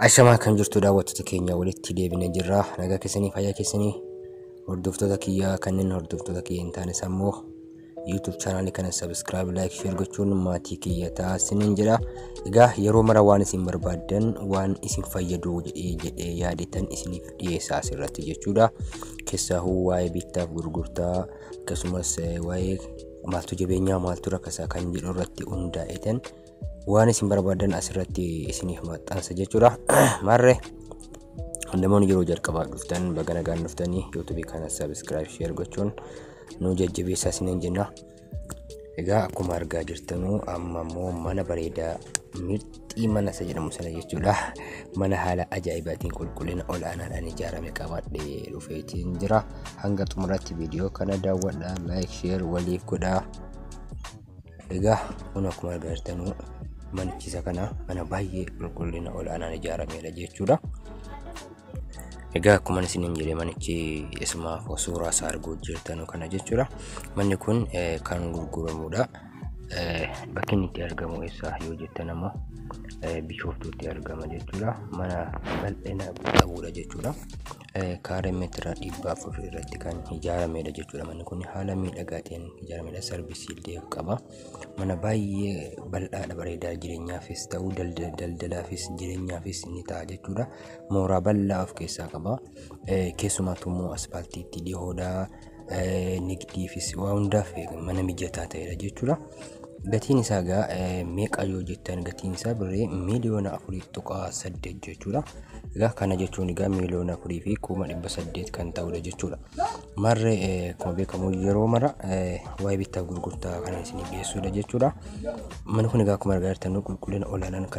Ashamaa kan jirtu daawwattoota keenya walitti deebinee jirra. Nagaa keessanii fayyaa keessanii hordoftoota kiyyaa kanneen hordoftoota kiyya hin taanes ammoo YouTube chaanaalii kana subscribe, like, share gochuun maatii kiyya ta'aa isiniin jedha. Egaa yeroo mara waan isin barbaaddan waan isin fayyadu jedhee jedhee yaadetan isiniif dhiyeessaa asirratti jechuudha. Keessaahuu waa'ee bittaaf gurgurtaa akkasumas eh, waa'ee maaltu jabeenyaa maaltu rakkasaa kan jedhu irratti hundaa'etan waan isin barbaadan asirratti isiniif maxxansa jechuudha marre namoonni yeroo jalqabaa dhuftan baga nagaan dhuftanii yuutuubii kana sabiskiraayib sheer gochuun nu jajjabeessaa isiniin jenna egaa akkuma argaa jirtanuu amma immoo mana bareedaa mirxii mana isa jedhamu sana jechuudha mana haala ajaa'ibaatiin qulqullina ol'aanaadhaan ijaarame qabadhee dhufeetiin jira hanga xumuraatti viidiyoo kana daawwadha laayik sheer waliif godhaa Egaa kun akkuma agartan manichisa kana mana baay'ee qulqullina ol'aanaan ijaarameedha jechuudha. Egaa akkuma isiniin jedhe manichi isuma suuraa isaa arguu jirtan kana jechuudha. Manni kun kan gurguramudha. Bakki inni itti argamu eessa yoo jettan ammoo bishooftuutti argama jechuudha. Mana bal'ina qabudha jechuudha. kaaree meetira dhibba afur irratti kan ijaaramedha jechuudha. Manni kun haala miidhagaa ta'een ijaaramedha. Sarvisii illee qaba. Mana baay'ee bal'aadha bareedaa jireenyaafis ta'u daldalaafis jireenyaafis ni ta'a jechuudha. Mooraa bal'aa of keessaa qaba. Keessumattuu immoo aspaaltiitti dhihoodha. nigdiifis waa hundaaf mana mijataa ta'edha jechuudha. Gatiin isaa egaa meeqa yoo jettan gatiin isaa birrii miiliyoona afurii tuqaa saddeet jechuudha. Egaa kana jechuun egaa miiliyoona afurii fi kuma dhibba saddeet kan ta'udha jechuudha. Marree akkuma beekamu yeroo mara waa'ee bittaa gurgurtaa kana isinii dhiyeessuudha jechuudha. Manni kun egaa akkuma argaa jirtan qulqullina olaanaan kan